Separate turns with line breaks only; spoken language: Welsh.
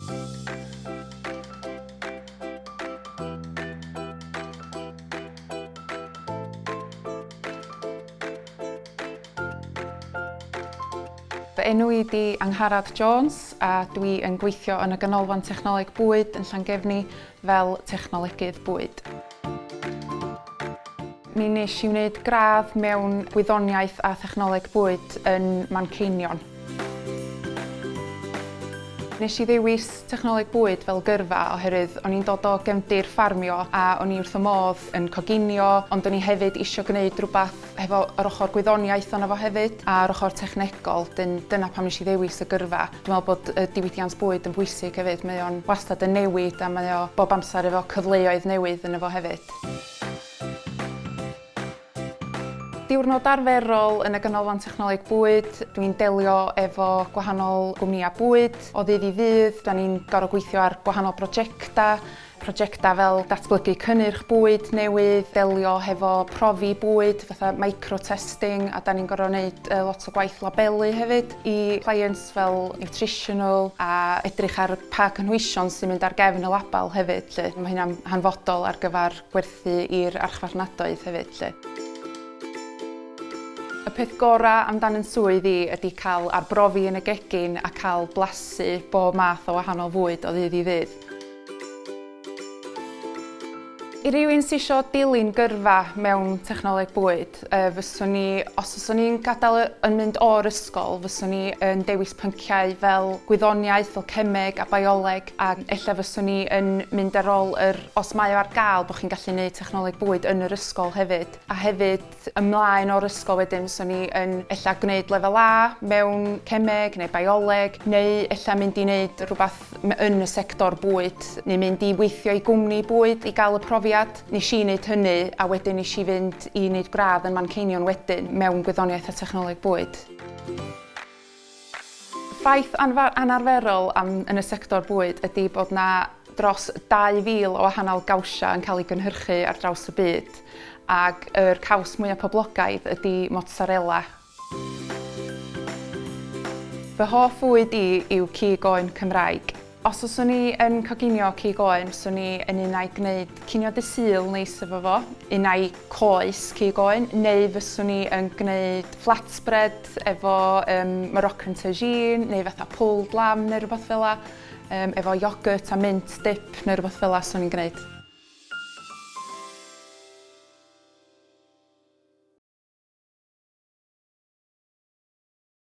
Fy enw i di Angharad Jones a dwi yn gweithio yn y Ganolfan Technoleg Bwyd yn Llangefni fel Technolegydd Bwyd. Mi wnes i wneud gradd mewn gwyddoniaeth a thechnoleg bwyd yn Manceinion. Nes i ddewis technoleg bwyd fel gyrfa oherwydd o'n i'n dod o gefndir ffarmio a o'n i wrth y modd yn coginio ond o'n i hefyd isio gwneud rhywbeth hefo yr ochr gwyddoniaeth ono fo hefyd a'r ochr technegol, dyn dyna pam nes i ddewis y gyrfa. Dwi'n me'wl bod y diwydiant bwyd yn bwysig hefyd, mae o'n wastad yn newid a mae o bob amser efo cyfleoedd newydd yno fo hefyd. Diwrnod arferol yn y Ganolfan Technoleg Bwyd, dwi'n delio efo gwahanol gwmnïa bwyd o ddydd i ddydd, 'dan ni'n gor'o' gweithio ar gwahanol brojecta, Prosiectau fel datblygu cynnyrch bwyd newydd, delio hefo profi bwyd fatha micro-testing a 'dan ni'n gorfod neud lot o gwaith labelu hefyd i clients fel nutritional a edrych ar pa gynhwysion sy'n mynd ar gefn y label hefyd 'lly. Mae hynna'n hanfodol ar gyfer gwerthu i'r archfarchnadoedd hefyd 'lly. Y peth gorau am dan yn swydd i ydy cael arbrofi yn y gegin a cael blasu bob math o wahanol fwyd o ddydd i ddydd. I rywun sydd isio dilyn gyrfa mewn technoleg bwyd, fyswn ni, os fyswn i'n gadael yn mynd o'r ysgol, fyswn i yn dewis pynciau fel gwyddoniaeth, fel cemeg a bioleg, a ella fyswn i yn mynd ar ôl yr, os mae o ar gael, bod chi'n gallu gwneud technoleg bwyd yn yr ysgol hefyd, a hefyd, ymlaen o'r ysgol wedyn fyswn i yn ella gwneud lefel A mewn cemeg neu bioleg neu ella mynd i wneud rhywbeth yn y sector bwyd neu mynd i weithio i gwmni bwyd i gael y profiad. Nes i wneud hynny a wedyn nes i fynd i wneud gradd yn Manceinion wedyn mewn gwyddoniaeth a technoleg bwyd. Ffaith anarferol am yn y sector bwyd ydi bod 'na dros 2,000 o wahanol gawsiau yn cael eu gynhyrchu ar draws y byd, ac yr caws mwya' poblogaidd ydi mozzarella. Fy hoff fwyd i yw cig oen Cymraeg. Os fyswn i yn coginio cig oen, swn i yn un ai gwneud cinio Dydd Sul neis efo fo, un ai coes cig oen, neu fyswn i yn gwneud flatbread efo yym Moroccan tagine neu fatha pulled lamb neu rywbeth fel 'na yym efo yoghurt a mint dip neu rywbeth fel 'na swn i'n gwneud.